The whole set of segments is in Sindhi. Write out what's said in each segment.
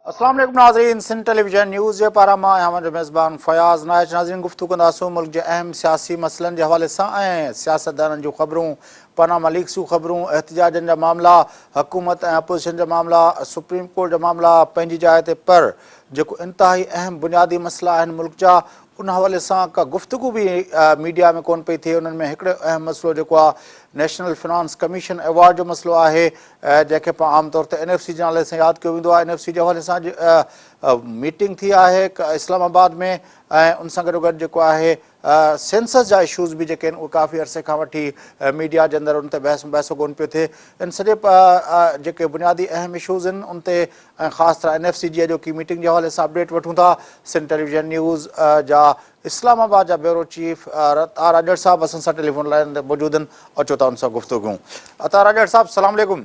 السلام عليڪم ناظرين سن ٽيلي ويزن نيوز جي پارا مان آهيان جو ميزبان فياض نائچ ناظرين گفتگو ڪنداسون ملڪ جي اهم سياسي مسئلن جي حوالي سان ۽ سياستدانن جون خبرون پاناما ليڪس جون خبرون، احتجاجن جا معاملا، حڪومت ۽ اپوزيشن جا معاملا، سپريم ڪورٽ جا معاملا پنهنجي جاء تي پر جيڪو انتهائي اهم بنيادي مسئلا آهن ملڪ جا ان حوالي سان ڪا گفتگو به ميڊيا ۾ ڪون پئي ٿئي انهن ۾ هڪڙو اهم مسئلو جيڪو آهي نيشنل فنانس ڪميشن ايوارڊ جو مسئلو آهي جنهن کي پاڻ عام طور تي اين ايف سي جي نالي سان ياد ڪيو ويندو آهي اين ايف سي جي حوالي سان ميٽنگ ٿي آهي اسلام آباد ۾ ۽ ان سان گڏوگڏ جيڪو آهي سينسس جا اشوز به جيڪي آهن اهي ڪافي عرصي کان وٺي ميڊيا جي اندر ان تي بحث مباحثو ڪونه پيو ٿئي ان سڄي جيڪي بنيادي اهم اشوز آهن ان تي ۽ خاص طرح اين ايف سي جي اڄوڪي ميٽنگ جي حوالي سان اپڊيٽ وٺون ٿا سنڌ ٽيليويزن نيوز جا اسلام آباد جا بيورو چيف عطا راڄڙ صاحب اسان سان ٽيليفون لائين تي موجود آهن اچو ٿا ان سان گفتگو ڪيون عطا راڄڙ صاحب سلام عليڪم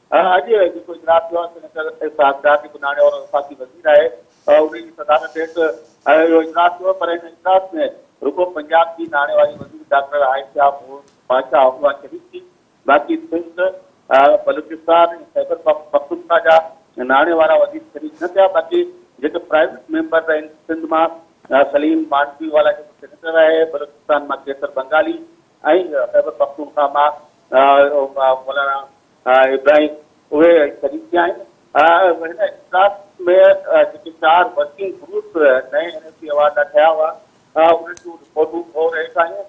اڄ جيڪو اجلاس ٿيو آهي سينيٽر اسحاق ڊار جيڪو ناڻي وارو وفاقي وزير آهي انهي جي صدارت هيٺ اهو اجلاس ٿيو پر ان اجلاس ۾ رڳو پنجاب جي ناڻي واري وزير ڊاڪٽر عائشه مون بادشاهه اها شريڪ ٿي باقي سنڌ بلوچستان ۽ خيبر پختونخوا جا ناڻي وارا وزير شريڪ نه ٿيا باقي جيڪي پرائيويٽ ميمبر رهن سنڌ مان سليم مانڊوي والا جيڪو سينيٽر آهي بلوچستان مان قيصر بنگالي ۽ خيبر پختونخوا مان مولانا ها ابراهيم اهي شريڪ به آهن. ها هن اجلاس ۾ جيڪي چار ورڪنگ گروپ نئين اين اي سي ايوارڊ لاء ٺهيا هئا انهن جون رپورٽون هو رهيس آهيون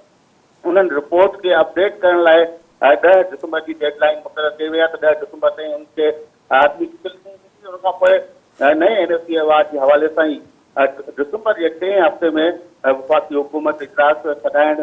انهن رپورٽ کي اپڊيٽ ڪرڻ لاء ڏهه ڊسمبر جي ڊيڊ لائين مقرر ڪئي وئي آهي ته ڏهه ڊسمبر تائين انهن کي آخري شڪل ڏني ويندي ان کان پوء نئين اين اي سي ايوارڊ جي حوالي سان ئي ڊسمبر جي ٽئين هفتي ۾ وفاقي حڪومت اجلاس سڏائڻ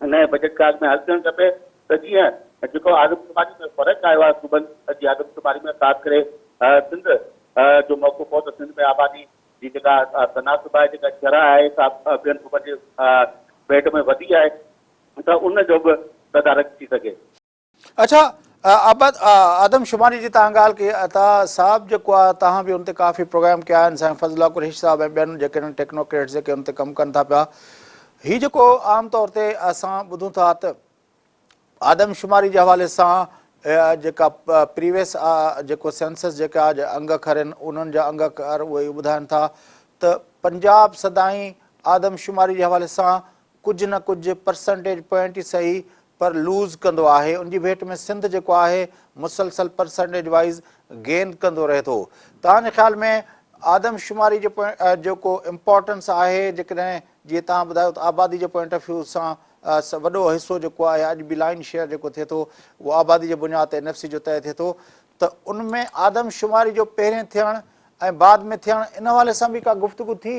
نئين بجيٽ ڪارڊ ۾ حل ٿيڻ کپي ته جيئن جيڪو آدمشماري ۾ فرق آيو آهي صوبن جي آدمشماري ۾ خاص ڪري سنڌ جو موقعو پئو ته سنڌ ۾ آبادي جي جيڪا تناسب آهي جيڪا شرح آهي سا ٻين صوبن جي ڀيٽ ۾ وڌي آهي ته ان جو به تدارڪ ٿي سگهي. اڇا ابد آدم شماري جي تان ڳالهه ڪئي عطا صاحب جيڪو آ تان به ان تي ڪافي پروگرام ڪيا آهن سائين فضل الله قريشي صاحب ۽ ٻين جيڪي ٽيڪنوڪريٽس جيڪي ان تي ڪم ڪن ٿا پيا هي جيڪو عام طور تي اسان ٻڌون ٿا ته آدم شماري جي حوالي سان جيڪا پريويس جيڪو سينسس جيڪا انگ اکر آهن انهن جا انگ اکر اهي ٻڌائن ٿا ته پنجاب سدائين آدم شماري جي حوالي سان ڪجهه نه ڪجهه پرسنٽيج پوائنٽ ئي سهي پر لوز ڪندو آهي ان جي ڀيٽ ۾ سنڌ جيڪو آهي مسلسل پرسنٽيج وائيز گين ڪندو رهي ٿو توهان جي خيال ۾ آدمشماري جي جيڪو امپارٽنس آهي جيڪڏهن جيئن توهان ٻڌايو ته آبادي جي پوائنٽ آف ويو سان وڏو حصو جيڪو آهي اڄ به لائن شيئر جيڪو ٿئي ٿو اهو آبادي جي بنياد تي اين ايف سي جو طئي ٿئي ٿو ته ان ۾ آدمشماري جو پهرين ٿيڻ ۽ بعد ۾ ٿيڻ ان حوالي سان به ڪا گفتگو ٿي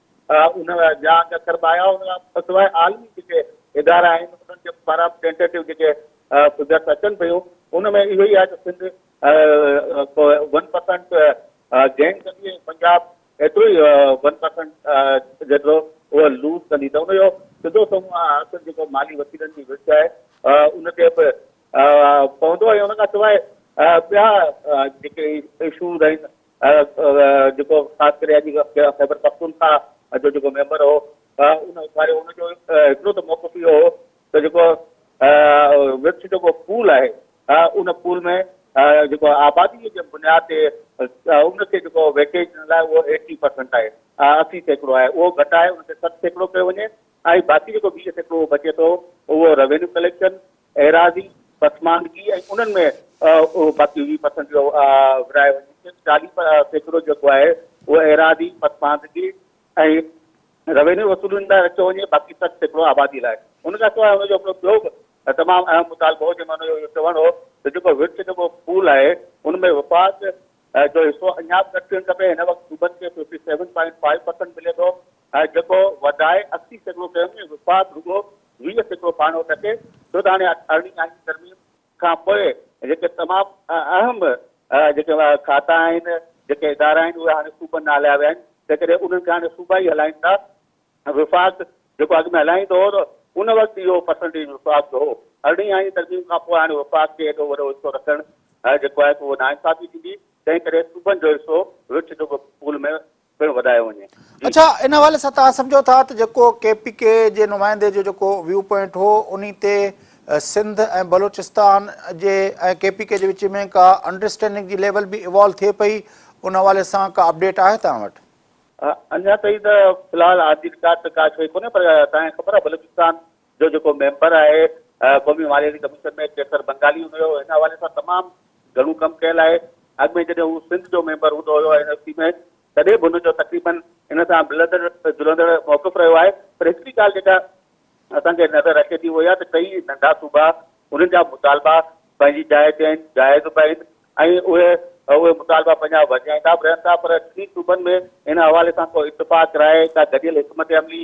ان جا اڳ ڪربايا ان کان سواء عالمي جيڪي ادارا آهن انهن جي پاران ٽينٽيٽو جيڪي فگرس اچن پيون ان ۾ اهو ئي آهي ته سنڌ ون پرسنٽ گين ڪندي ۽ پنجاب ايترو ئي ون پرسنٽ جيترو اهو لوز ڪندي ته ان جو سڌو سنئون اثر جيڪو مالي وسيلن جي وچ آهي ان تي به پوندو ۽ ان کان سواء ٻيا جيڪي اشوز آهن جيڪو خاص ڪري اڄ خيبر پختونخواه جو جيڪو ميمبر هو ان اٿاريو ان جو هڪڙو ته موقف اهو هو ته جيڪو وڪس جيڪو پول آهي ان پول ۾ جيڪو آبادي جي بنياد تي ان کي جيڪو ويٽيج ڏيڻ لاء اهو ايٽي پرسنٽ آهي اسي سيڪڙو آهي اهو گهٽائي ان کي ست سيڪڙو ڪيو وڃي ۽ باقي جيڪو ويهه سيڪڙو بچي ٿو اهو روينيو ڪليڪشن ايراضي پسماندگي ۽ انهن ۾ اهو باقي ويهه پرسنٽ جو ورهايو وڃي صرف چاليهه سيڪڙو جيڪو آهي اهو ايراضي پسماندگي ۽ روينيو وصولين لاء رکيو وڃي باقي سٺ سيڪڙو آبادي لاء ان کان سواء ان جو هڪڙو ٻيو به تمام اهم مطالبو هو جنهن ۾ ان جو اهو چوڻ هو ته جيڪو ورڇ جيڪو پول آهي ان ۾ وفاق جو حصو اڃا به گهٽ ٿيڻ کپي هن وقت صوبن کي fifty seven point five percent ملي ٿو جيڪو وڌائي اسي سيڪڙو ڪيو وڃي وفاق رڳو ويهه سيڪڙو ڀاڻو ٽڪي ٿو ته هاڻي اٺارهين آئيني ترميم کان پوء جيڪي تمام اهم جيڪي کاتا آهن، جيڪي ادارا آهن اهي هاڻي صوبن ڏانهن هلايا ويا آهن، تنهنڪري انهن کي هاڻي صوبا ئي هلائين ٿا. وفاق جيڪو اڳ ۾ هلائيندو هو ته ان وقت اهو پرسنٽيج وفاق جو هو، ارڙهين آئيني ترميم کان پوء هاڻي وفاق کي ايڏو وڏو حصو رکڻ جيڪو آهي سو اهو ناانصافي ٿيندي، تنهنڪري صوبن جو حصو وچ جيڪو پول ۾ پڻ وڌايو وڃي. اڇا ان حوالي سان توهان سمجهو ٿا ته جيڪو ڪي پي ڪي جي نمائندي جو جيڪو ويو پوائنٽ هو انهي تي سنڌ ۽ بلوچستان جي ۽ ڪي پي ڪي جي وچ ۾ ڪا انڊرسٽينڊنگ جي ليول به ايوالو ٿئي پئي ان حوالي سان ڪا اپڊيٽ آهي توهان وٽ؟ اڃا تائين ته في الحال آن دي رڪارڊ ته ڪا شيء ڪونهي پر توهان کي خبر آهي بلوچستان جو جيڪو ميمبر آهي قومي مالياتي ڪميشن ۾ قيصر بنگالي هوندو هيو هن حوالي سان تمام گهڻو ڪم ڪيل آهي اڳ ۾ جڏهن هو سنڌ جو ميمبر هوندو هيو اين ايف سي ۾ تڏهن به هن جو تقريبا هن سان ملندڙ جلندڙ موقف رهيو آهي پر هڪڙي ڳالهه جيڪا اسان کي نظر اچي ٿي اهو اها ته ڪئي ننڍا صوبا انهن جا مطالبا پنهنجي جاء تي آهن جائز به آهن ۽ اهي اهي مطالبا پنهنجا وڌائيندا به رهن ٿا پر ٽي صوبن ۾ ان حوالي سان ڪو اتفاق راء ڪا گڏيل حڪمت عملي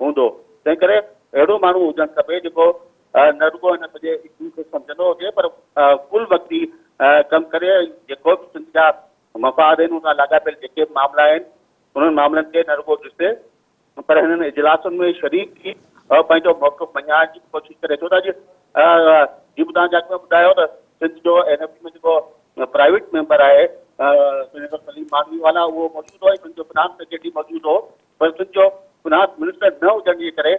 هوندو، تنهنڪري اهڙو ماڻهو هجڻ کپي جيڪو نه رڳو هن سڄي اسٽيم کي سمجهندو هجي پر ڪل وقتي ڪم ڪري ۽ جيڪو به سنڌ جا مفاد آهن ان سان لاڳاپيل جيڪي به معاملا آهن انهن معاملن کي نه رڳو ڏسي پر هنن اجلاسن ۾ شريڪ ٿي پنهنجو موقف مڃائڻ جي ڪوشش ڪري ڇو ته اڄ جي ٻڌا جا ڪم ٻڌايو ته سنڌ جو اين ايف سي ۾ جيڪو پرائيويٽ ميمبر آهي سينيٽر سليم مانوي والا اهو موجود هو ۽ سنڌ جو فنانس سيڪريٽري موجود هو پر سنڌ جو فنانس منسٽر نه هجڻ جي ڪري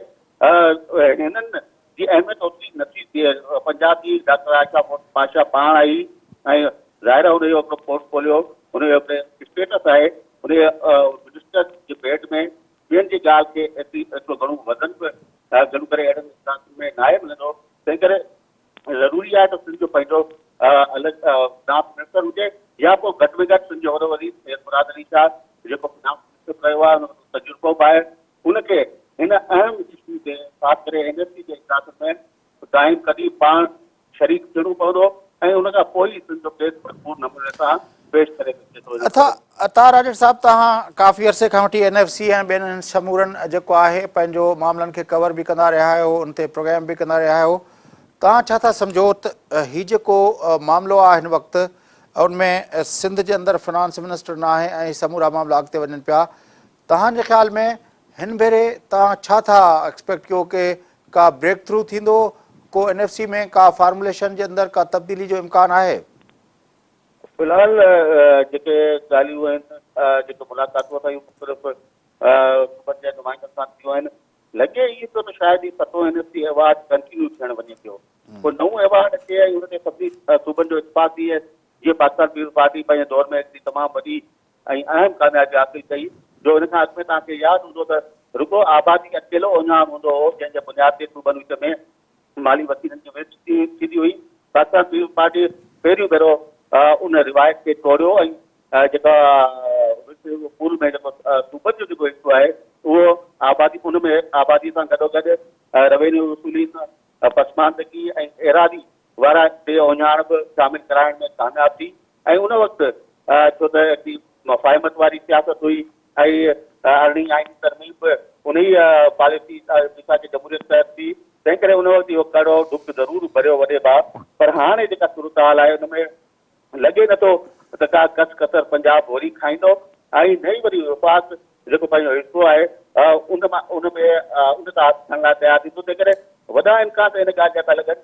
هنن جي اهميت اوتري نه ٿي ٿئي. پنجاب جي ڊاڪٽر عائشه پاشا پاڻ آئي ۽ ظاهر آهي ان جو هڪڙو پورٽفوليو، ان جو هڪڙو اسٽيٽس آهي، ان جي منسٽر جي بيڊ ۾ ٻين جي ڳالهه کي ايترو گهڻو وزن به گهڻو ڪري اهڙن اجلاسن ۾ ناهي ملندو، تنهنڪري ضروري آهي ته سنڌ جو پنهنجو الڳ فنانس منسٽر هجي يا پوء گهٽ ۾ گهٽ سنڌ جو وڏو وزير سيد مراد علي شاهه جيڪو فنانس منسٽر رهيو آهي ان وٽ تجربو به آهي ان کي هن اهم اشو تي خاص ڪري اين ايف سي جي اجلاسن ۾ قائم قديم پاڻ شريڪ ٿيڻو پوندو ۽ ان کان پوء ئي سنڌ جو ڪيس ڀرپور نموني سان پيش ڪري سگهجي ٿو. عطا عطا راڄڙ صاحب توهان ڪافي عرصي کان وٺي اين ايف سي ۽ ٻين هن سمورن جيڪو آهي پنهنجو معاملن کي ڪور به ڪندا رهيا آهيو ان تي پروگرام به ڪندا رهيا آهيو توهان ڇا ٿا سمجهو ته هي جيڪو معاملو آهي هن وقت ان ۾ سنڌ جي اندر فنانس منسٽر نه آهي ۽ سمورا معاملا اڳتي وڃن پيا توهان جي خيال ۾ هن ڀيري توهان ڇا ٿا ايڪسپيڪٽ ڪيو ڪي ڪا بريڪ ٿرو ٿيندو ڪو اين ايف سي ۾ ڪا فارموليشن جي اندر ڪا تبديلي جو امڪان آهي في الحال جيڪي ڳالهيون آهن جيڪي ملاقاتون اسان جون مختلف صوبن جي نمائندن سان ٿيون آهن لڳي ائين ٿو ته شايد هي ستون N S C award continue ٿيڻ وڃي پيو ڪو نئون ايوارڊ اچي ۽ ان تي سڀني صوبن جو اتفاق ٿئي جيئن پاڪستان پيپلز پارٽي پنهنجي دور ۾ هڪڙي تمام وڏي ۽ اهم ڪاميابي حاصل ڪئي جو ان کان اڳ ۾ توهان کي ياد هوندو ته رڳو آبادي اڪيلو اونهان هوندو هو جنهن جي بنياد تي صوبن وچ ۾ مالي وسيلن جي ويچ ٿيندي هئي. بادشاهه سيوم پارٽي پهريون ڀيرو ان روايت کي ٽوڙيو ۽ جيڪا وچ پول ۾ جيڪو صوبن جو جيڪو حصو آهي اهو آبادي ان ۾ آبادي سان گڏوگڏ روينيو وصولين، پسماندگي ۽ ايراضي وارا بي اوڃاڻ به شامل ڪرائڻ ۾ ڪامياب ٿي. ۽ ان وقت ڇو ته ايتري مفاهمت واري سياست هئي ۽ ارڙهين آئيني ترميم به انهيء پاليسي ميثاق جمهوريت تحت ٿي، تنهن ڪري ان وقت اهو ڪڙو ڏک ضرور ڀريو وڏي ڀاء، پر هاڻي جيڪا صورتحال آهي ان ۾ لڳي نه ٿو ته ڪا ڪس ڪسر پنجاب وري کائيندو ۽ نه ئي وري وفاق جيڪو پنهنجو حصو آهي ان مان ان ۾ ان تان هٿ کڻڻ لاء تيار ٿيندو، تنهن ڪري وڏا امڪان ته ان ڳالهه جا ٿا لڳن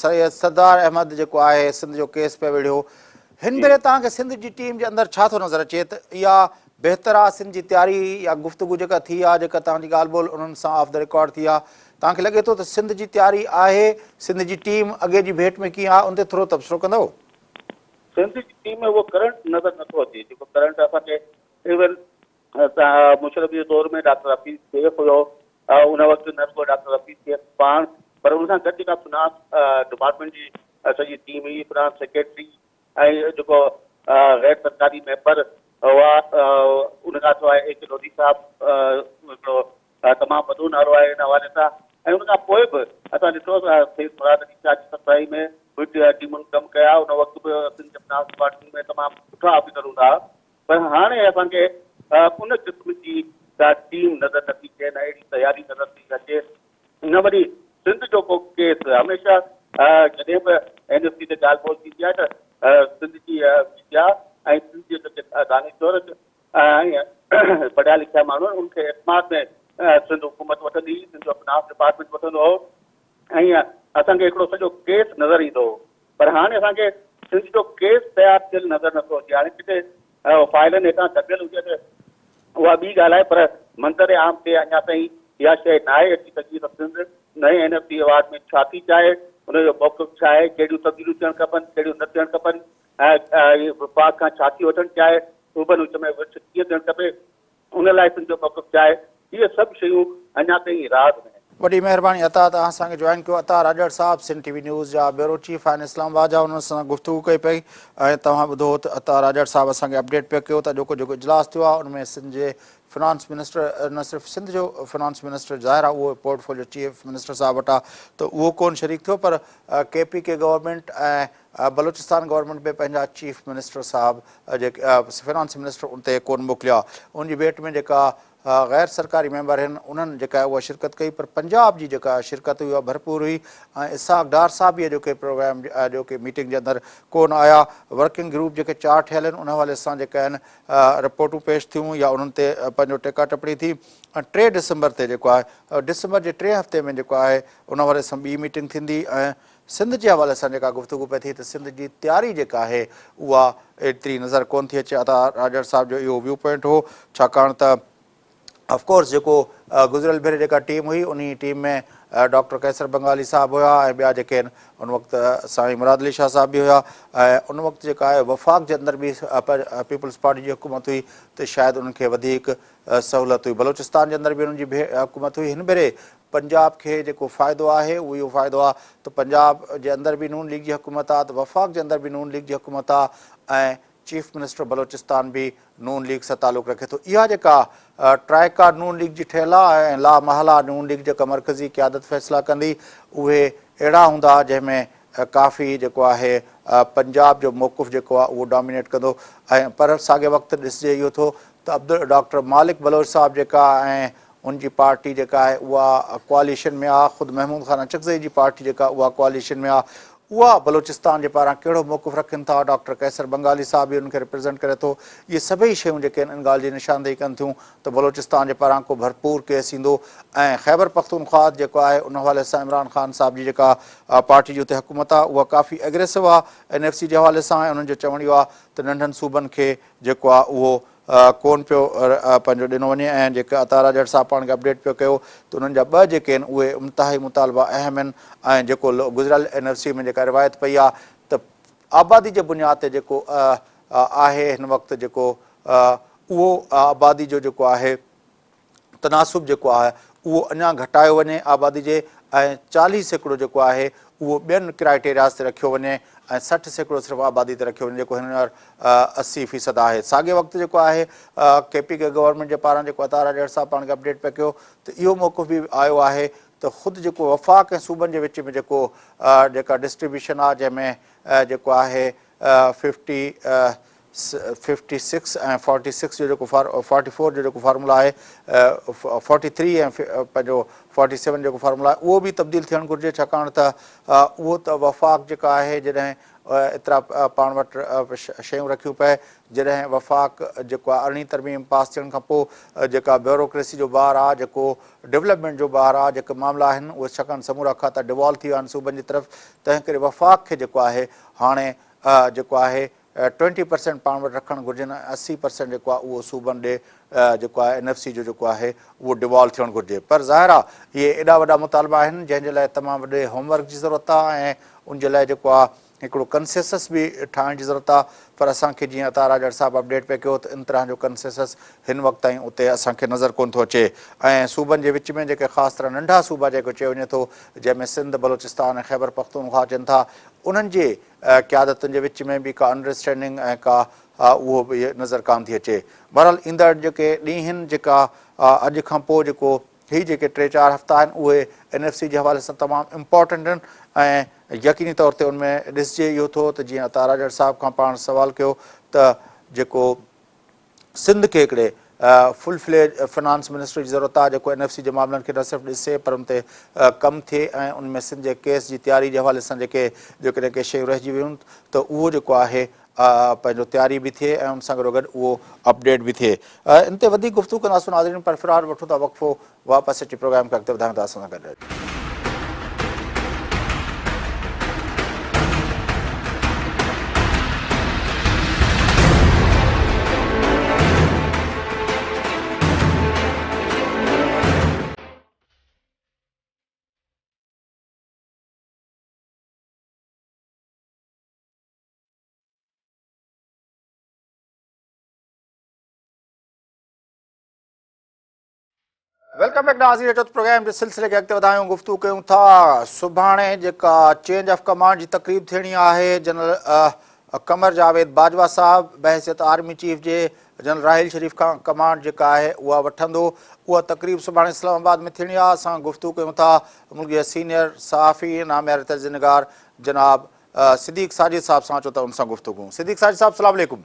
سيد سردار احمد جيڪو آهي سنڌ جو ڪيس پئي وڙهيو هن ڀيري توهان کي سنڌ جي ٽيم جي اندر ڇا ٿو نظر اچي ته اها بهتر آهي سنڌ جي تياري يا گفتگو جيڪا ٿي آهي جيڪا توهان جي ڳالهه ٻولهه انهن سان آف دا رڪارڊ ٿي آهي توهان کي لڳي ٿو ته سنڌ جي تياري آهي سنڌ جي ٽيم اڳي جي ڀيٽ ۾ ڪيئن آهي ان تي ٿورو تبصرو ڪندو. سنڌ جي ٽيم ۾ اهو ڪرنٽ نظر نٿو اچي جيڪو ڪرنٽ اسان کي ايون مشرف جي دور ۾ ڊاڪٽر حفيظ شيخ هيو، ان وقت نه رڳو ڊاڪٽر حفيظ شيخ پاڻ پر ان سان گڏ جيڪا فنانس ڊپارٽمينٽ جي سڄي ٽيم هئي، فنانس سيڪريٽري ۽ جيڪو غير سرڪاري ميمبر هئا، ان کان سواء اي ڪي لوڌي صاحب هڪڙو تمام وڏو نالو آهي ان حوالي سان ۽ ان کان پوء به اسان ڏٺو ته سيد مراد علي شاهه جي سربراهي ۾ ٽيمن ڪم ڪيا، ان وقت به سنڌ جي فنانس ڊپارٽمينٽ ۾ تمام سٺا آفيسر هوندا هئا. پر هاڻي اسان کي ان قسم جي ڪا ٽيم نظر نه ٿي اچي نه اهڙي تياري نظر ٿي اچي نه وري سنڌ جو ڪو ڪيس هميشه جڏهن به اين ايس سي تي ڳالهه ٻولهه ٿيندي آهي ته سنڌ جي ميڊيا ۽ سنڌ جي جيڪي دانشور ۽ پڙهيا لکيا ماڻهو ان کي اعتماد ۾ سنڌ حڪومت وٺندي هئي سنڌ جو فنانس ڊپارٽمينٽ وٺندو هو ائين اسان کي هڪڙو سڄو ڪيس نظر ايندو هو پر هاڻي اسان کي سنڌ جو ڪيس تيار ٿيل نظر نٿو اچي هاڻي ڪٿي فائلن هيٺان دٻيل هجي ته اها ٻي ڳالهه آهي پر منظر عام تي اڃا تائين اها شيء ناهي اچي سگهي ته سنڌ نئين اين ايف سي ايوارڊ ۾ ڇا ٿي چاهي ان جو موقف ڇا آهي ڪهڙيون تبديليون ٿيڻ کپن ڪهڙيون نه ٿيڻ کپن ۽ وفاق کان ڇا ٿي وٺڻ چاهي صوبن وچ ۾ وٺ ڪيئن ٿيڻ کپي ان لاء تنهنجو موقف ڇا آهي؟ هيء سڀ شيون اڃا تائين راز ۾ آهن. وڏي مهرباني عطاء ته اسان کي جوائن ڪيو. عطاء راڄڙ صاحب سنڌ ٽي وي نيوز جا بيورو چيف آهن اسلام آباد جا انهن سان گفتگو ڪئي پئي ۽ توهان ٻڌو ته عطاء راڄڙ صاحب اسان کي اپڊيٽ پئي ڪيو ته اڄوڪو جيڪو اجلاس ٿيو آهي ان ۾ سنڌ جي فنانس منسٽر نه صرف سنڌ جو فنانس منسٽر ظاهر آهي اهو پورٽ فوليو چيف منسٽر صاحب وٽ آهي ته اهو ڪون شريڪ ٿيو پر K P K government ۽ Balochistan government به پنهنجا چيف منسٽر صاحب جيڪي فنانس منسٽر ان تي ڪون موڪليا ان جي ڀيٽ ۾ جيڪا غير سرڪاري ميمبر هن انهن جيڪا اها شرڪت ڪئي پر پنجاب جي جيڪا شرڪت هئي اها ڀرپور هئي ۽ اسحاق ڊار صاحب به اڄوڪي پروگرام اڄوڪي ميٽنگ جي اندر ڪون آيا ورڪنگ گروپ جيڪي چار ٺهيل آهن ان حوالي سان جيڪا آهن رپورٽون پيش ٿيون يا انهن تي پنهنجو ٽيڪا ٽپڻي ٿي ٽي ڊسمبر تي جيڪو آهي ڊسمبر جي ٽئين هفتي ۾ جيڪو آهي ان حوالي سان ٻي ميٽنگ ٿيندي ۽ سنڌ جي حوالي سان جيڪا گفتگو پئي ٿئي ته سنڌ جي تياري جيڪا آهي اها ايتري نظر ڪونه ٿي اچي عطا راڄڙ صاحب جو اهو ويو پوائنٽ هو ڇاڪاڻ ته آف ڪورس جيڪو گذريل ڀيري جيڪا ٽيم هئي انهي ٽيم ۾ ڊاڪٽر قيصر بنگالي صاحب هيا ۽ ٻيا جيڪي آهن ان وقت سائين مراد علي شاهه صاحب به هيا ۽ ان وقت جيڪا آهي وفاق جي اندر به پيپلز پارٽي جي حڪومت هئي ته شايد انهن کي وڌيڪ سهولت هئي بلوچستان جي اندر به انهن جي حڪومت هئي هن ڀيري پنجاب کي جيڪو فائدو آهي اهو اهو فائدو آهي ته پنجاب جي اندر به نون ليگ جي حڪومت آهي ته وفاق جي اندر به نون ليگ جي حڪومت آهي ۽ چيف منسٽر بلوچستان به نون ليگ سان تعلق رکي ٿو اها جيڪا ٽرائيڪا نون ليگ جي ٺهيل آهي ۽ لا محاله نون ليگ جيڪا مرڪزي قيادت فيصلا ڪندي اهي اهڙا هوندا جنهن ۾ ڪافي جيڪو آهي پنجاب جو موقف جيڪو آهي اهو ڊامينيٽ ڪندو ۽ پر ساڳي وقت ڏسجي اهو ٿو ته عبد ڊاڪٽر مالڪ بلوچ صاحب جيڪا ۽ هن جي پارٽي جيڪا آهي اها ڪواليشن ۾ آ، خود محمود خان اچڪزئي جي پارٽي جيڪا اها ڪواليشن ۾ آ، اها بلوچستان جي پاران ڪهڙو موقف رکن ٿا، ڊاڪٽر قيصر بنگالي صاحب ئي انهن کي ريپريزنٽ ڪري ٿو، اهي سڀئي شيون جيڪي آهن ان ڳالهه جي نشاندهي ڪن ٿيون ته بلوچستان جي پاران ڪو ڀرپور ڪيس ايندو ۽ خيبرپختونخوا جيڪو آهي ان حوالي سان عمران خان صاحب جي جيڪا پارٽي جي اتي حڪومت آ اها ڪافي اگريسو آ اين ايف سي جي حوالي سان ۽ انهن جو چوڻ اهو آ ته ننڍن صوبن کي جيڪو آ اهو ڪون پيو پنهنجو ڏنو وڃي ۽ جيڪي عطا راڄڙ صاحب پاڻ کي اپڊيٽ پيو ڪيو ته انهن جا ٻه جيڪي آهن اهي امتهائي مطالبا اهم آهن ۽ جيڪو گذريل اين آر سي ۾ جيڪا روايت پئي آهي ته آبادي جي بنياد تي جيڪو آهي هن وقت جيڪو اهو آبادي جو جيڪو آهي تناسب جيڪو آهي اهو اڃا گهٽايو وڃي آبادي جي ۽ چاليهه سيڪڙو جيڪو آهي اهو ٻين ڪرائيٽيرياز تي رکيو وڃي ۽ سٺ سيڪڙو صرف آبادي تي رکيو وڃي جيڪو هينئر اسي فيصد آهي ساڳئي وقت جيڪو آهي ڪي پي ڪي گورنمينٽ جي پاران جيڪو عطاء راڄڙ صاحب پاڻ کي اپڊيٽ پئي ڪيو ته اهو موقف به آيو آهي ته خود جيڪو وفاق ۽ صوبن جي وچ ۾ جيڪو جيڪا ڊسٽريبيوشن آهي جنهن ۾ جيڪو آهي fifty fifty six ۽ forty six جو جيڪو فورٽي فور جو جيڪو فارمولا آهي فورٽي ٿري ۽ پنهنجو فورٽي سيون جو جيڪو فارمولا آهي اهو به تبديل ٿيڻ گهرجي ڇاڪاڻ ته اهو ته وفاق جيڪا آهي جڏهن ايترا پاڻ وٽ شيون رکيون پئي جڏهن وفاق جيڪو آهي ارڙهين ترميم پاس ٿيڻ کان پوء جيڪا بيوروڪريسي جو بار آهي جيڪو ڊولپمينٽ جو بار آهي جيڪي معاملا آهن اهي ڇاڪاڻ سمورا کاتا ڊوالو ٿي ويا آهن صوبن جي طرف تنهن ڪري وفاق کي جيڪو آهي هاڻي جيڪو آهي ٽوئنٽي پرسينٽ پاڻ وٽ رکڻ گهرجن ۽ اسي پرسينٽ جيڪو آهي اهو صوبن ڏي جيڪو آهي اين ايف سي جو جيڪو آهي اهو ڊيوالو ٿيڻ گهرجي پر ظاهر آ اهي ايڏا وڏا مطالبا آهن جنهن جي لاء تمام وڏي هوم ورڪ جي ضرورت آ ۽ ان جي لاء جيڪو آ هڪڙو ڪنسيسس به ٺاهڻ جي ضرورت آ پر اسان کي جيئن عطا راڄاڙ صاحب اپڊيٽ پئي ڪيو ته ان طرح جو ڪنسيسس هن وقت تائين اتي اسان کي نظر ڪونه ٿو اچي ۽ صوبن جي وچ ۾ جيڪي خاص طرح ننڍا صوبا جنهن کي چيو وڃي ٿو جنهن ۾ سنڌ بلوچستان ۽ خيبر پختونخوا اچن ٿا انهن جي قيادتن جي وچ ۾ به ڪا انڊرسٽينڊنگ ۽ ڪا اهو به نظر ڪانه ٿي اچي. بهرحال ايندڙ جيڪي ڏينهن جيڪا اڄ کان پوء جيڪو هي جيڪي ٽي چار هفتا آهن اهي اين ايف سي جي حوالي سان تمام امپارٽنٽ آهن ۽ يقيني طور تي ان ۾ ڏسجي اهو ٿو ته جيئن عطاء راڄڙ صاحب کان پاڻ سوال ڪيو ته جيڪو سنڌ کي هڪڙي فل فليڊ فنانس منسٽري جي ضرورت آهي جيڪو اين ايف سي جي معاملن کي نه صرف ڏسي پر ان تي ڪم ٿئي ۽ ان ۾ سنڌ جي ڪيس جي تياري جي حوالي سان جيڪي جيڪڏهن ڪي شيون رهجي ويون ته اهو جيڪو آهي پنهنجو تياري به ٿئي ۽ ان سان گڏوگڏ اهو اپڊيٽ به ٿئي. ان تي وڌيڪ گفتگو ڪنداسون ناظرين پر في الحال وٺون ٿا وقفو واپس اچي پروگرام کي اڳتي وڌائيون ته اسان سان گڏ رهجو. ويلڪم بيڪ ناظرين اچو ته پروگرام جي سلسلي کي اڳتي وڌايون گفتگو ڪيون ٿا سڀاڻي جيڪا چينج آف ڪمانڊ جي تقريب ٿيڻي آهي جنرل قمر جاويد باجوا صاحب بحثيت آرمي چيف جي جنرل راحيل شريف کان ڪمانڊ جيڪا آهي اها وٺندو اها تقريب سڀاڻي اسلام آباد ۾ ٿيڻي آهي اسان گفتگو ڪيون ٿا ملڪ جي سينيئر صحافي نامياري تجزينگار جناب صديق ساجد صاحب سان اچو ته ان سان گفتگو صديق ساجد صاحب السلام عليڪم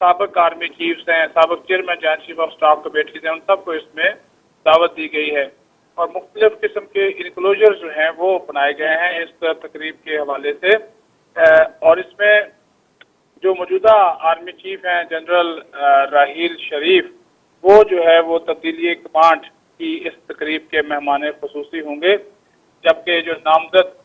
سابق آرمي چيفس ۽ سابق چيئرمين جهان چيف آف اسٽاف ڪو بيٺي تھي ان سب ڪو اس مين دعوت دي گئي هي اور مختلف قسم ڪي انڪلوجرس جو هين وو بنائي گئي هين اس تقريب ڪي حوالي سي اور اس مين جو موجوده آرمي چيف هين جنرل راحيل شريف وو جو هي وو تبديلي ڪمانڊ ڪي اس تقريب ڪي مهمان خصوصي هونگي جبڪه جو نامزد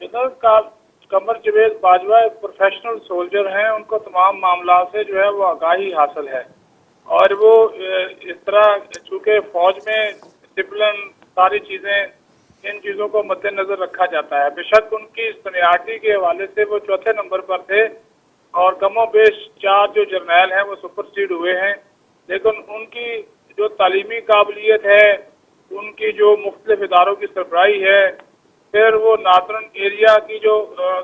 جنرل قمر جويد باجوه ايڪ پروفيشنل سولجر هين ان کو تمام معاملات سي جو هي وو آگاهي حاصل هي اور وو اس طرح چونڪه فوج مين ڊسپلن ساري چيزين ان چيزون کو مد نظر رکا جاتا هي بيشڪ ان ڪي سنيارٽي ڪي حوالي سي وو چوٿي نمبر پر ٿي اور ڪم و بيش چار جو جرنيل هين وو سپر سيڊ هوئي هين ليڪن ان ڪي جو تعليمي قابليت هي ان ڪي جو مختلف ادارو ڪي سربراهي هي پھر وو ناردرن ايريا ڪي جو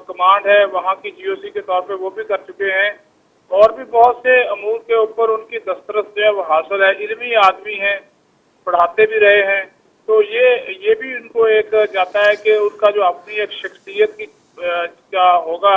ڪمانڊ هي وهان ڪي جي او سي ڪي طور پي وو بي ڪر چڪي هي اور بي بهت سي امور ڪي اوپر ان ڪي دسترس جو هي حاصل هي علمي آدمي هي پڙهاتي بي رهي هي تو يي يي بي ان ڪو ايڪ جاتا هي ڪي ان ڪا جو اپني ايڪ شخصيت ڪي جا هوگا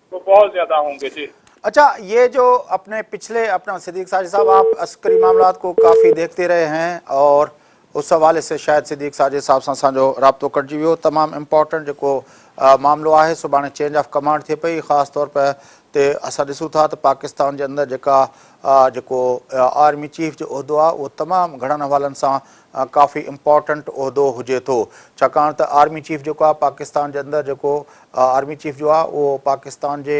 تو بهت زياده هون گي جي. اچھا يي جو اپني پچھلي اپنا صديق ساجد صاحب آپ عسڪري معاملات ڪو ڪافي ديکتي رهي هين اور اس حوالي سي شايد صديق ساجد صاحب سان اسان جو رابطو ڪٽجي ويو تمام امپورٽنٽ جيڪو معاملو آهي سڀاڻي چينج آف ڪمانڊ ٿئي پئي خاص طور پئي تي اسان ڏسون ٿا ته پاڪستان جي اندر جيڪا جيڪو آرمي چيف جو عهدو آهي اهو تمام گهڻن حوالن سان ڪافي امپورٽنٽ عهدو هجي ٿو ڇاڪاڻ ته آرمي چيف جيڪو آهي پاڪستان جي اندر جيڪو آرمي چيف جو آ اهو پاڪستان جي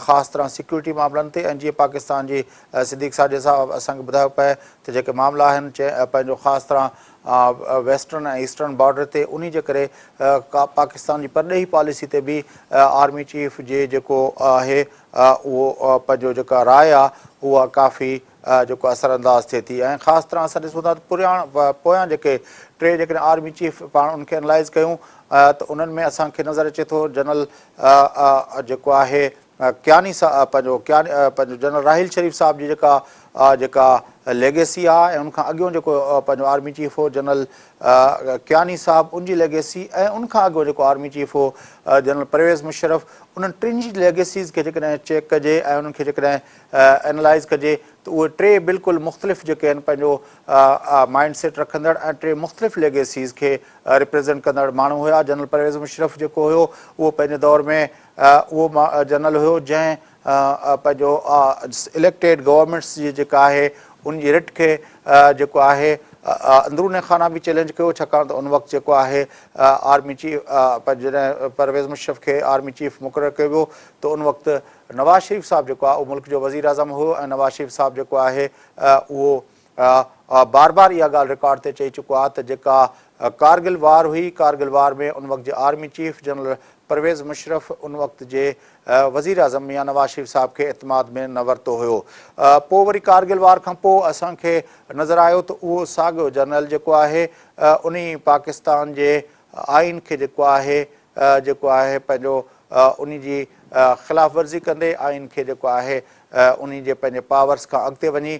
خاص طرح سيڪيورٽي معاملن تي ۽ جيئن پاڪستان جي صديق ساجد صاحب اسان کي ٻڌايو پئي ته جيڪي معاملا آهن پنهنجو خاص طرح ويسٽرن ۽ ايسٽرن بارڊر تي انهي جي ڪري پاڪستان جي پرڏيهي پاليسي تي به آرمي چيف جي جيڪو آهي اهو پنهنجو جيڪا راء آ اها ڪافي جيڪو اثر انداز ٿئي ٿي ۽ خاص طرح اسان ڏسون ٿا ته پريان پويان جيڪي ٽي جيڪڏهن آرمي چيف پاڻ انهن کي انلائز ڪيون ته انهن ۾ اسان کي نظر اچي ٿو جنرل جيڪو آهي ڪياني صاحب پنهنجو ڪياني پنهنجو جنرل راحيل شريف صاحب جي جيڪا جيڪا ليگيسي آ ۽ ان کان اڳيون جيڪو پنهنجو آرمي چيف هو جنرل ڪياني صاحب ان جي ليگيسي ۽ ان کان اڳو جيڪو آرمي چيف هو جنرل پرويز مشرف انهن ٽن جي ليگيسيز کي جيڪڏهن چيڪ ڪجي ۽ انهن کي جيڪڏهن اينالائز ڪجي ته اهي ٽي بلڪل مختلف جيڪي آهن پنهنجو مائنڊ سيٽ رکندڙ ۽ ٽي مختلف ليگيسيز کي ريپريزينٽ ڪندڙ ماڻهو هيا جنرل پرويز مشرف جيڪو هيو اهو پنهنجي دور ۾ اهو جنرل هيو جنهن پنهنجو اليڪٽيڊ گورنمينٽس جي جيڪا آهي ان جي رٽ کي جيڪو آهي اندروني خانه به چيلينج ڪيو ڇاڪاڻ ته ان وقت جيڪو آهي آرمي چيف جڏهن پرويز مشرف کي آرمي چيف مقرر ڪيو ويو ته ان وقت نواز شريف صاحب جيڪو آهي اهو ملڪ جو وزيراعظم هو ۽ نواز شريف صاحب جيڪو آهي اهو بار بار اها ڳالهه رڪارڊ تي چئي چڪو آهي ته جيڪا ڪارگل وار هئي ڪارگل وار ۾ ان وقت جي army chief general Pervez Musharraf ان وقت جي وزير اعظم ميان نواز شريف صاحب کي اعتماد ۾ نه ورتو هيو پوء وري ڪارگل وار کان پوء اسان کي نظر آيو ته اهو ساڳيو جنرل جيڪو آهي انهي پاڪستان جي آئين کي جيڪو آهي جيڪو آهي پنهنجو انهي جي خلاف ورزي ڪندي آئين کي جيڪو آهي انهي جي پنهنجي پاورس کان اڳتي وڃي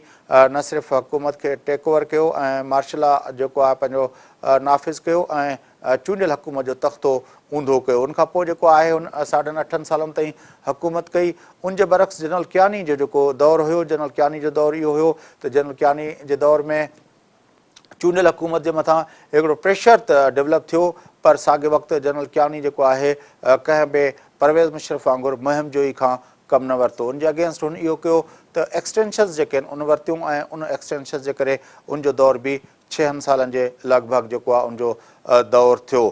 نه صرف حڪومت کي ٽيڪ اوور ڪيو ۽ مارشلا جيڪو آهي پنهنجو نافذ ڪيو ۽ چونڊيل حڪومت جو تختو اونڌو ڪيو ان کان پوء جيڪو آهي هن ساڍن اٺن سالن تائين حڪومت ڪئي ان جي برعڪس جنرل ڪياني جو جيڪو دور هيو جنرل ڪياني جو دور اهو هيو ته جنرل ڪياني جي دور ۾ چونڊيل حڪومت جي مٿان هڪڙو پريشر ته ڊولپ ٿيو پر ساڳئي وقت جنرل ڪياني جيڪو آهي ڪنهن به پرويز مشرف وانگر مهم جوئي کان ڪم نه ورتو ان جي اگينسٽ هن اهو ڪيو ته ايڪسٽينشنز جيڪي آهن ان ورتيون ۽ ان ايڪسٽينشنز جي ڪري ان جو دور به ڇهن سالن جي لڳ ڀڳ جيڪو آهي ان جو دور ٿيو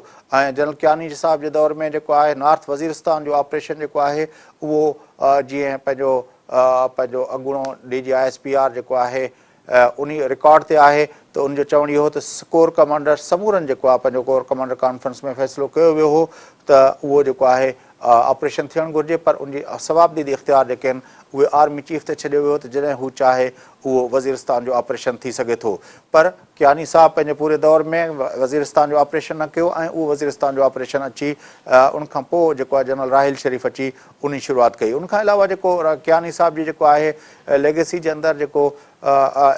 ۽ جنرل ڪياني جي صاحب جي دور ۾ جيڪو آهي نارٿ وزيرستان جو آپريشن جيڪو آهي اهو جيئن پنهنجو پنهنجو اڳوڻو D G I S P R جيڪو آهي انهي رڪارڊ تي آهي ته ان جو چوڻ اهو هو ته ڪور ڪمانڊر سمورن جيڪو آهي پنهنجو ڪور ڪمانڊر ڪانفرنس ۾ فيصلو ڪيو ويو هو ته اهو جيڪو آهي آپريشن ٿيڻ گهرجي پر ان جي صوابديدي اختيار جيڪي آهن اهي آرمي چيف تي ڇڏيو ويو ته جڏهن هو چاهي اهو وزيرستان جو آپريشن ٿي سگهي ٿو پر ڪياني صاحب پنهنجي پوري دور ۾ وزيرستان جو آپريشن نه ڪيو ۽ اهو وزيرستان جو آپريشن اچي ان کان پوء جيڪو آهي جنرل راحيل شريف اچي انهي شروعات ڪئي ان کان علاوه جيڪو ڪياني صاحب جي جيڪو آهي ليگيسي جي اندر جيڪو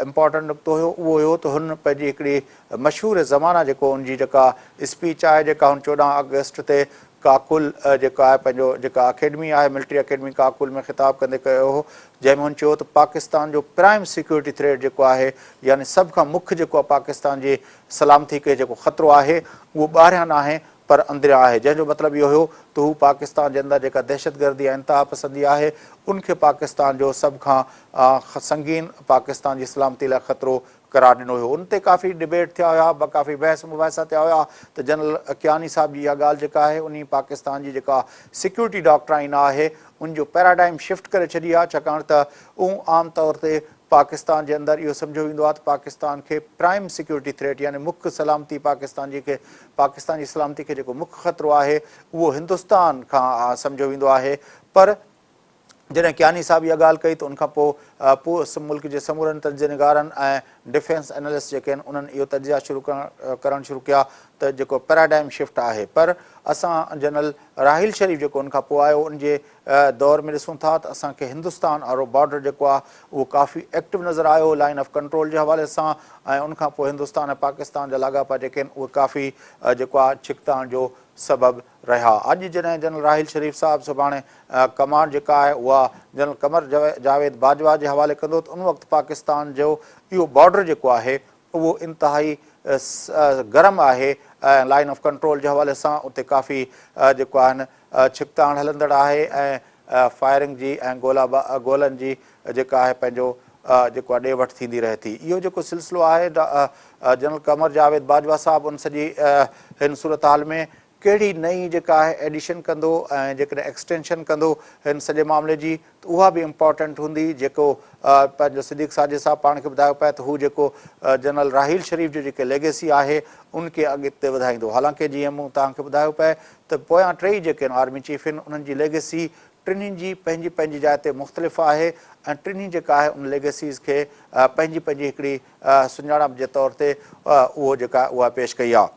امپارٽنٽ نقطو هيو اهو هيو ته هن پنهنجي هڪڙي مشهور زمانه جيڪو ان جي جيڪا اسپيچ آهي جيڪا هن چوڏهن آگسٽ تي ڪاڪول جيڪو آهي پنهنجو جيڪا اڪيڊمي آهي ملٽري اڪيڊمي ڪاڪول ۾ خطاب ڪندي ڪيو هو جنهن ۾ هن چيو ته پاڪستان جو پرائم سيڪيورٽي ٿريٽ جيڪو آهي يعني سڀ کان مک جيڪو پاڪستان جي سلامتي کي جيڪو خطرو آهي اهو ٻاهريان ناهي پر اندريان آهي جنهن جو مطلب اهو هيو ته هو پاڪستان جي اندر جيڪا دهشتگردي ۽ انتهاپسندي آهي ان کي پاڪستان جو سڀ کان سنگين پاڪستان جي سلامتي لاء خطرو قرار ڏنو هيو ان تي ڪافي ڊبيٽ ٿيا هيا ڪافي بحث مباحثا ٿيا هيا ته جنرل ڪياني صاحب جي اها ڳالهه جيڪا آهي انهي پاڪستان جي جيڪا سيڪيورٽي ڊاڪٽرائن آهي ان جو پيراڊائم شفٽ ڪري ڇڏي آهي ڇاڪاڻ ته اون عام طور تي پاڪستان جي اندر اهو سمجهيو ويندو آهي ته پاڪستان کي پرائم سيڪيورٽي ٿريٽ يعني مک سلامتي پاڪستان جي کي پاڪستان جي سلامتي کي جيڪو مک خطرو آهي اهو هندستان کان سمجهيو ويندو آهي پر جڏهن ڪياني صاحب اها ڳالهه ڪئي ته ان کان پوء پوء ملڪ جي سمورن تجزيه نگارن ۽ ڊفينس انالسٽ جيڪي آهن انهن اهو تجزيا شروع ڪرڻ شروع ڪيا ته جيڪو پيراڊائم شفٽ آهي پر اسان جنرل راحيل شريف جيڪو ان کان پوء آيو ان جي دور ۾ ڏسون ٿا ته اسان کي هندستان آرو بارڊر جيڪو آهي اهو ڪافي ايڪٽو نظر آيو لائين آف ڪنٽرول جي حوالي سان ۽ ان کان پوء هندستان ۽ پاڪستان جا لاڳاپا جيڪي آهن اهي ڪافي جيڪو آهي ڇڪتاڻ جو سبب رهيا اڄ جڏهن جنرل راحيل شريف صاحب سڀاڻي ڪمانڊ جيڪا آهي اها جنرل قمر جاويد باجوا جي حوالي ڪندو ته ان وقت پاڪستان جو اهو بارڊر جيڪو آهي اهو انتهائي گرم آهي ۽ لائين آف ڪنٽرول جي حوالي سان اتي ڪافي جيڪو آهن ڇڪتاڻ هلندڙ آهي ۽ فائرنگ جي ۽ گولا گولن جي جيڪا آهي پنهنجو جيڪو ڏي وٺ ٿيندي رهي ٿي اهو جيڪو سلسلو آهي جنرل قمر جاويد باجوا صاحب ان سڄي هن صورتحال ۾ ڪهڙي نئين جيڪا آهي ايڊيشن ڪندو ۽ جيڪڏهن ايڪسٽينشن ڪندو هن سڄي معاملي جي ته اها به امپارٽنٽ هوندي جيڪو پنهنجو صديق ساجد صاحب پاڻ کي ٻڌايو پئي ته هو جيڪو جنرل راحيل شريف جو جيڪي ليگيسي آهي ان کي اڳتي وڌائيندو حالانڪه جيئن مون توهان کي ٻڌايو پئي ته پويان ٽيئي جيڪي آرمي چيف هن انهن جي ليگيسي ٽنهي جي پنهنجي پنهنجي جاء تي مختلف آهي ۽ ٽنهي جيڪا آهي ان ليگيسيز کي پنهنجي پنهنجي هڪڙي سڃاڻپ جي طور تي اهو جيڪا اها پيش ڪئي آهي.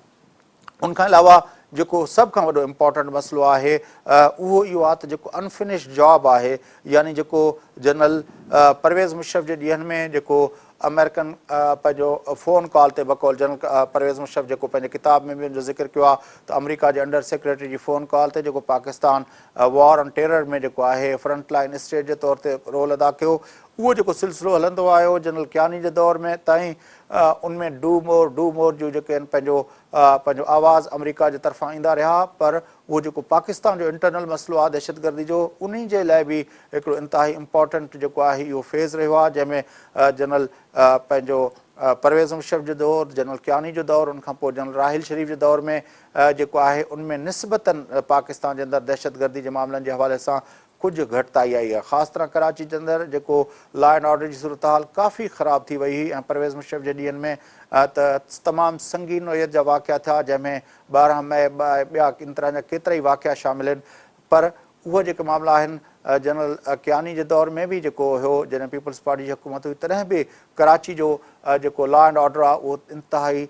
ان کان علاوه جيڪو سڀ کان وڏو امپارٽنٽ مسئلو آهي اهو اهو آهي ته جيڪو انفنشڊ جاب آهي يعني جيڪو جنرل پرويز مشرف جي ڏينهن ۾ جيڪو آمريڪن پنهنجو فون ڪال تي بقول جنرل پرويز مشرف جيڪو پنهنجي ڪتاب ۾ به ان جو ذڪر ڪيو آهي ته آمريڪا جي انڊر سيڪريٽري جي فون ڪال تي جيڪو پاڪستان وار آن ٽيرر ۾ جيڪو آهي فرنٽ لائن اسٽيٽ جي طور تي رول ادا ڪيو اهو جيڪو سلسلو هلندو آيو جنرل ڪياني جي دور ۾ تائين ان ۾ ڊو مور ڊو مور جون جيڪي آهن پنهنجو پنهنجو آواز آمريڪا جي طرفان ايندا رهيا پر اهو جيڪو پاڪستان جو انٽرنل مسئلو آهي دهشتگردي جو انهي جي لاء به هڪڙو انتهائي امپارٽنٽ جيڪو آهي اهو فيز رهيو آهي جنهن ۾ جنرل پنهنجو پرويز مشرف جو دور جنرل ڪياني جو دور ان کان پوء جنرل راحيل شريف جي دور ۾ جيڪو آهي ان ۾ نسبتن پاڪستان جي اندر دهشتگردي جي معاملن جي حوالي سان ڪجهه گهٽتائي آئي آهي خاص طرح ڪراچي جي اندر جيڪو لا اينڊ آرڊر جي صورتحال ڪافي خراب ٿي وئي هئي ۽ پرويز مشرف جي ڏينهن ۾ ته تمام سنگين نوعيت جا واقعا ٿيا جنهن ۾ ٻارهن مئي ۽ ٻيا ان طرح جا ڪيترائي واقعا شامل آهن پر اهي جيڪي معاملا آهن جنرل ڪياني جي دور ۾ به جيڪو هيو جڏهن پيپلز پارٽي جي حڪومت هئي تڏهن به ڪراچي جو جيڪو لا اينڊ آرڊر آهي اهو انتهائي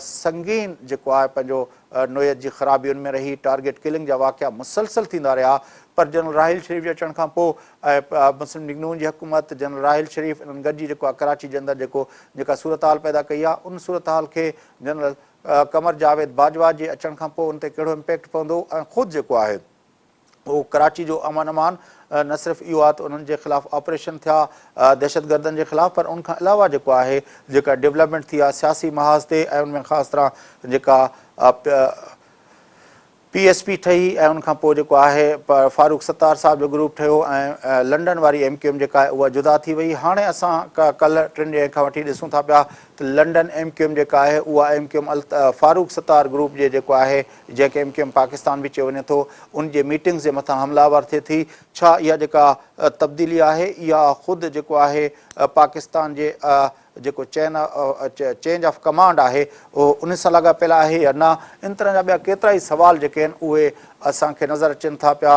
سنگين جيڪو آهي پنهنجو نوعيت جي خرابين ۾ رهي ٽارگيٽ ڪلنگ جا واقعا مسلسل ٿيندا رهيا پر جنرل راحيل شريف جي اچڻ کان پو ۽ مسلم ليگ نون جي حڪومت جنرل راحيل شريف انهن گڏجي جيڪو آهي ڪراچي جي اندر جيڪو جيڪا صورتحال پيدا ڪئي آهي ان صورتحال کي جنرل قمر جاويد باجوا جي اچڻ کان پو ان تي ڪهڙو امپيڪٽ پوندو ۽ خود جيڪو آهي هو ڪراچي جو امن امان نه صرف اهو آهي ته انهن جي خلاف آپريشن ٿيا دهشتگردن جي خلاف پر ان کان علاوه جيڪو آهي جيڪا ڊيولپمينٽ ٿي آهي سياسي محاذ تي ۽ ان ۾ خاص طرح جيڪا پي ايس پي ٺهي ۽ ان کان پوء جيڪو آهي فاروق ستار صاحب جو گروپ ٺهيو ۽ لنڊن واري ايم ڪيو ايم جيڪا آهي اها جدا ٿي وئي هاڻي اسان ڪلهه ٽن ڏينهن کان وٺي ڏسون ٿا پيا ته لنڊن ايم ڪيو ايم جيڪا آهي اها M Q M Farooq Sattar group جي جيڪو آهي جنهن کي ايم ڪيو ايم پاڪستان به چيو وڃي ٿو، ان جي ميٽنگز جي مٿان حمله آور ٿئي ٿي، ڇا اها جيڪا تبديلي آهي اها خود جيڪو آهي پاڪستان جي جيڪو چين چينج آف ڪمانڊ آهي اهو ان سان لاڳاپيل آهي يا نه، ان طرح جا ٻيا ڪيترا ئي سوال جيڪي آهن اهي اسان کي نظر اچن ٿا پيا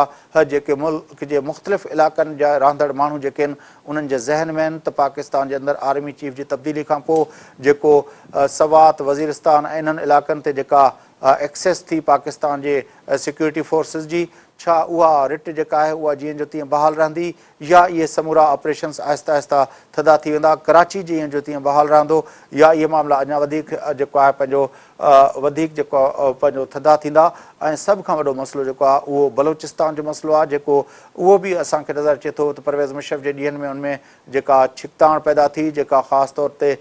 جيڪي ملڪ جي مختلف علائقن جا رهندڙ ماڻهو جيڪي آهن انهن جي ذهن ۾ آهن ته پاڪستان جي اندر آرمي چيف جي تبديلي کانپوء جيڪو سوات، وزيرستان ۽ انهن علائقن تي جيڪا اها ايڪسيس ٿي پاڪستان جي سيڪيورٽي فورسز جي؟ ڇا اها رٽ جيڪا آهي اها جيئن جو تيئن بحال رهندي يا اهي سمورا آپريشنز آهسته آهسته ٿڌا ٿي ويندا ڪراچي جيئن جو تيئن بحال رهندو يا اهي معاملا اڃا وڌيڪ جيڪو آهي پنهنجو وڌيڪ جيڪو پنهنجو ٿڌا ٿيندا ۽ سڀ کان وڏو مسئلو جيڪو آهي اهو بلوچستان جو مسئلو آهي جيڪو اهو به اسان کي نظر اچي ٿو ته پرويز مشرف جي ڏينهن ۾ ان ۾ جيڪا ڇڪتاڻ پيدا ٿي جيڪا خاص طور تي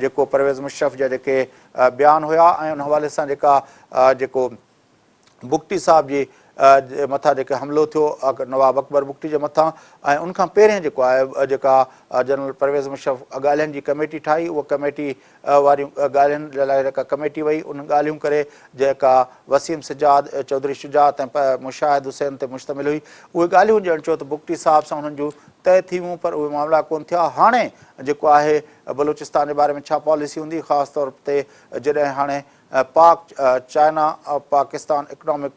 جيڪو پرويز مشرف جا جيڪي بيان هيا ۽ ان حوالي سان جيڪا جيڪو بگٽي صاحب جي مٿان جيڪي حملو ٿيو نواب اڪبر بگٽي جي مٿان ۽ ان کان پهرين جيڪو آهي جيڪا جنرل پرويز مشرف ڳالهين جي ڪميٽي ٺاهي اها ڪميٽي واريون ڳالهين جي لاء جيڪا ڪميٽي وئي ان ڳالهيون ڪري جيڪا وسيم سجاد چوڌري شجاعت ۽ مشاهد حسين تي مشتمل هئي اهي ڳالهيون ڄڻ چيو ته بگٽي صاحب سان انهن جون طئي ٿي ويون پر اهي معاملا ڪون ٿيا هاڻي جيڪو آهي بلوچستان جي باري ۾ ڇا پاليسي هوندي خاص طور تي جڏهن هاڻي Pak China Pakistan economic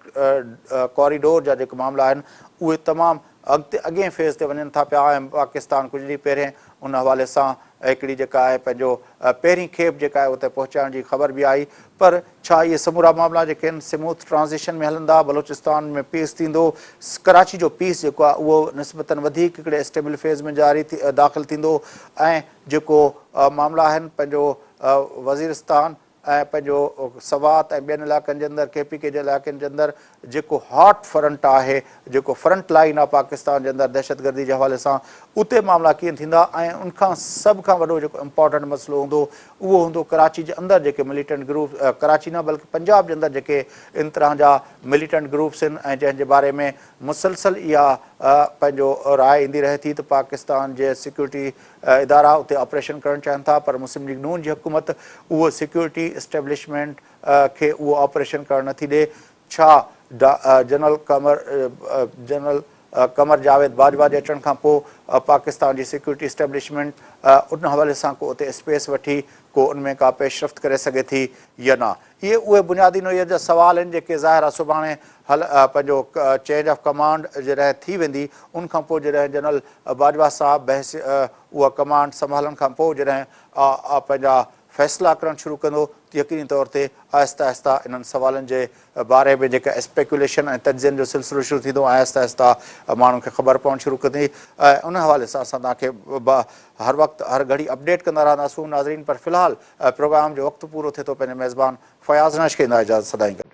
corridor جا جيڪي معاملا آهن اهي تمام اڳتي اڳئين فيز تي وڃن ٿا پيا ۽ پاڪستان ڪجهه ڏينهن پهرين ان حوالي سان هڪڙي جيڪا آهي پنهنجو پهرين کيپ جيڪا آهي اتي پهچائڻ جي خبر به آئي پر ڇا اهي سمورا معاملا جيڪي آهن سموٿ ٽرانزيشن ۾ هلندا بلوچستان ۾ پيس ٿيندو ڪراچي جو پيس جيڪو آهي اهو نسبتن وڌيڪ هڪڙي اسٽيبل فيز ۾ جاري داخل ٿيندو ۽ جيڪو معاملا آهن پنهنجو وزيرستان ۽ پنهنجو سوات ۽ ٻين علائقن جي اندر ڪي پي ڪي جي علائقن جي اندر جيڪو هاٽ فرنٽ آهي، جيڪو فرنٽ لائين آهي پاڪستان جي اندر دهشتگردي جي حوالي سان، اتي معاملا ڪيئن ٿيندا ۽ ان کان سڀ کان وڏو جيڪو امپارٽنٽ مسئلو هوندو اهو هوندو ڪراچي جي اندر جيڪي مليٽنٽ گروپ ڪراچي نه بلڪه پنجاب جي اندر جيڪي ان طرح جا مليٽنٽ گروپس آهن ۽ جنهن جي باري ۾ مسلسل اها پنهنجو راء ايندي رهي ٿي ته پاڪستان جي سيڪيورٽي ادارا اتي آپريشن ڪرڻ چاهن ٿا پر مسلم ليگ نون جي حڪومت اهو سيڪيورٽي اسٽيبلشمينٽ کي اهو آپريشن ڪرڻ نٿي ڏي ڇا؟ ڊا. جنرل قمر جنرل قمر جاويد باجوا جي اچڻ کان پوء پاڪستان جي سيڪيورٽي اسٽيبلشمينٽ ان حوالي سان ڪو اتي اسپيس وٺي ڪو ان ۾ ڪا پيشرفت ڪري سگهي ٿي يا نه؟ اهي اهي بنيادي نوعيت جا سوال آهن جيڪي ظاهر آهي سڀاڻي حل پنهنجو چينج آف ڪمانڊ جڏهن ٿي ويندي ان کان پوء جڏهن جنرل باجوا صاحب بحث اها ڪمانڊ سنڀالڻ کان پوء جڏهن پنهنجا فيصلا ڪرڻ شروع ڪندو ته يقيني طور تي آهستي آهستي انهن سوالن جي باري ۾ جيڪي اسپيڪيوليشن ۽ تجزين جو سلسلو شروع ٿيندو ۽ آهستي آهستي ماڻهن کي خبر پوڻ شروع ڪندي ۽ ان حوالي سان اسان توهان کي به هر وقت هر گهڙي اپڊيٽ ڪندا رهنداسون ناظرين پر في الحال پروگرام جو وقت پورو ٿئي ٿو پنهنجي ميزبان فياض نش کي ادا اجازت سدائين گڏ.